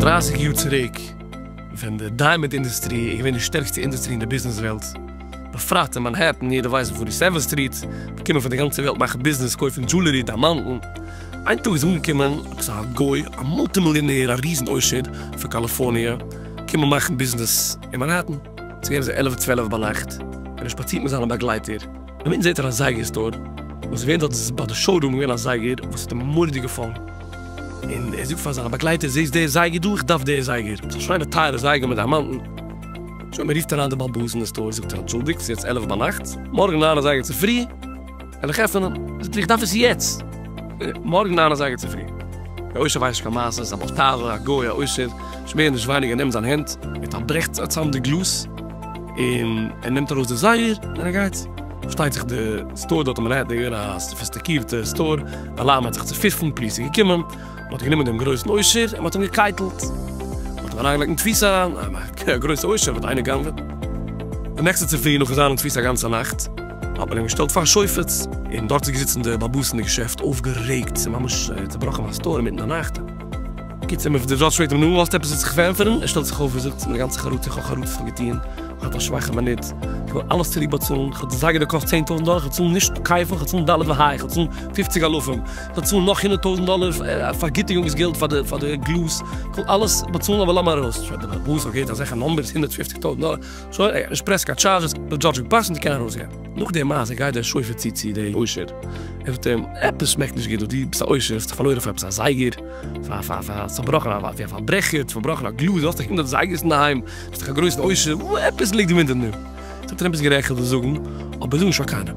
דרײַסיק יאר צוריק ווען די דיימאנד אינדוסטרי איז געווען די שטערקסטע אינדוסטרי אין די ביזנעס וועלט, בפרט אין מאנהעטן, יעדער ווייסט וואו פארטי סעווען סטריט, די קומען פון די גאנצע וועלט מאכן ביזנעס קויפן דזשולערי דיימאנדן, איין טאג איז אנגעקומען עפעס א גוי א מולטי מיליאנער א ריזן עושר פון קאליפארניע קומען מאכן ביזנעס, אין מאנהעטן, ס'איז געווען אזוי עלף צוועלף ביינאכט, און ער שפאצירט מיט זיינע באגלייטער, און מיטן זעט ער א זייגער סטאר, וואס ווען דארט איז ביי די שאו רום געווען א זייגער וואס האט אים מוראדיג געפאלן, און ער זאגט פאר זיינע באגלייטער, זעסט די זייגער דא, איך דארף די זייגער, ס'איז א שיינע טייערע זייגער מיט דיימאנטן, שוין מען רופט אריין די בעל בית אין די סטאר, זאגט ער, אנטשולדיגט, ס'איז יעצט עלף ביינאכט, מארגן ניין אזייגער צופרי. וועל איך עפענען. זאגט ער איך דארף עס יעצט. מארגן ניין אזייגער צופרי. דער עושר ווייסט נישט קיין מעשות, א באטאווער, א גוי, א עושר, נישט מער נישט ווייניגער נעמט זיין הענט, ער פארברעכט צאם די גלאז, און ער נעמט ארויס די זייגער, און ער גייט. פארשטייט זיך די סטאר דארט האט מען געהערט דער געווען א סאפיסטיקירטע סטאר, די אלארם האט זיך צופיפן, פאליס איז געקומען. מען האט גענומען דעם גרויסן עושר און מען האט אים געקייטלט, מען האט אים אריינגעלייגט אין תפיסה אריין, א גרויסע עושר וועט איינער גנב'ען. די נעקסטע צופרי נאכן זיין אין תפיסה א גאנצע נאכט, האט מען אים געשטעלט פאר שופט, און דארט איז געזיצן די באבוס אין די געשעפט אויפגערעגט, ס'איז ממש צובראכן א סטאר אינמיטן די נאכט. קיצער מען דארט שרייט אים נו האסט עפעס וואס זיך פאר ענטפערן, ער שטעלט זיך אויף און זאגט מיט א גאנצע חרטה איך האב חרטות פאר געטוהן, איך האב א שוואכע מינוט, איך וועל אלעס צוריק באצאלן, איך האב די זייגער געקאסט צען טויזנט דאלער, איך וועל צאלן נישט קייפן, איך וועל צאלן ד' וה', איך וועל צאלן פופציג אלפים. באצאלן נאך הונדערט טויזנט דאלער פארגיטיגונגס געלט פאר די גלאז, כ'וועל אלעס באצאלן אבער לאמיר ארויס שוין די באס האט געהערט אזעלכע נומבערס הונדערט פופציג טויזנט דאלער, שוין ער האט נישט פרעס קיין טשארדזשעס, ער האט דזשאדזש געפאסט און זיי קענען ארויסגיין. נאך די מעשה גייט דער שופר צו צו די עושר, ער זאגט אים עפעס שמעקט נישט גוט דא, דו ביסט א עושר, האסט דיך פארלוירן פאר עפעס א זייגער, פאר פאר פאר א צובראכענע א ווי א פארברעכער, צובראכן א גלאז, האסט דיך הונדערט זייגערס אינדערהיים, ביסט דיך א גרויסן עושר, עפעס ליגט דא אונטערן נארן, זאגט אים עפעס גערעכט זאגן, אבער זאג נישט פאר קיינעם.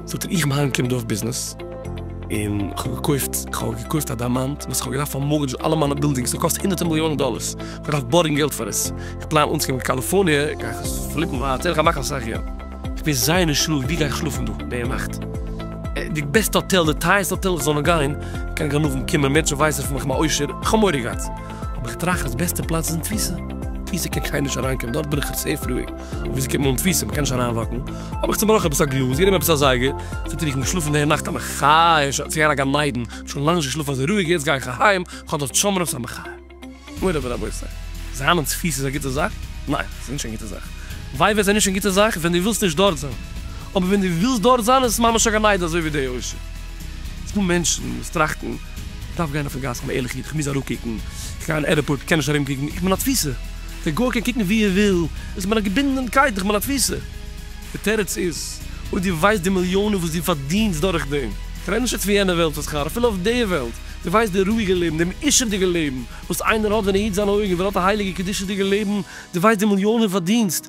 זאגט ער איך בין היינט קומט אויף ביזנעס, און כ'האב געקויפט כ'האב געקויפט א דיימאנט וואס כ'האב געדארפט פאר מארגעדזשן אלע מיינע בילדינגס ס'האט געקאסט הונדערטער מיליאנען דאלערס, כ'דארף בארגן געלט פאר עס, כ'פלאן אנצוקומען קאליפארניע גיי איך עס פליפן ווייטער און כ'גיי מאכן אסאך געלט. כ'בין זייער נישט רואיג ווי גיי איך שלאפן דא די נאכט? די בעסטע האטעל די טייערסטע האטעל איך זאל נאר גיין קיין גנבים קומען מענטשן ווייסן פון מיך כ'בין א עושר כ'האב מורא געהאט אבער כ'טראכט אז בעסטע פלאץ איז אין תפיסה תפיסה קען קיינער נישט אריינקומען דארט בין איך סעיף רואיג. וויאזוי קומט מען אן תפיסה? מ'קען נישט אריינוואקן. האב איך צעבראכן עפעס א גלאז, גענומען עפעס א זייגער, זאגט ער, איך בין געשלאפן די נאכט א מחיה, שוין צעגאנגען א גן עדן, כ'האב שוין לאנג נישט געשלאפן אזוי רואיג, יעצט גיי איך אהיים, כ'האב דארט שמרנות א מחיה. מורי ורבותי, זיין און תפיסה איז א גוטע זאך? ניין, ס'איז נישט קיין גוטע זאך. וויי ווען ס'איז נישט קיין גוטע זאך? ווען דו ווילסט נישט דארט זיין. אבער ווען דו ווילסט דארט זיין איז עס ממש א גן עדן אזוי ווי די עושר. ס'דא מענטשן וואס טראכטן, כ'דארף גיין אויפן גאס, כ'בין א ערליכע איד, כ'מוז אראפקוקן, כ'גיי אין עירפארט, כ'קען נישט ארומקוקן, איך בין א תפיסה. דער גוי קען קוקן ווי ער וויל, איז מען א געבינדענקייט דורך מן התפיסה. די תירוץ איז, אויב דו ווייסט די מיליאנען וואס דו פארדינסט דורך דעם, כ'רעד נישט יעצט פון יענע וועלט פון שכר, אפילו אויף די וועלט, דו ווייסט די רואיגע לעבן, דעם עושר'דיגע לעבן וואס איינער האט ווען ער היט זיינע אויגן, ווען ער האט א הייליגע קדושה'דיגע לעבן, דו ווייסט די מיליאנען פארדינסט,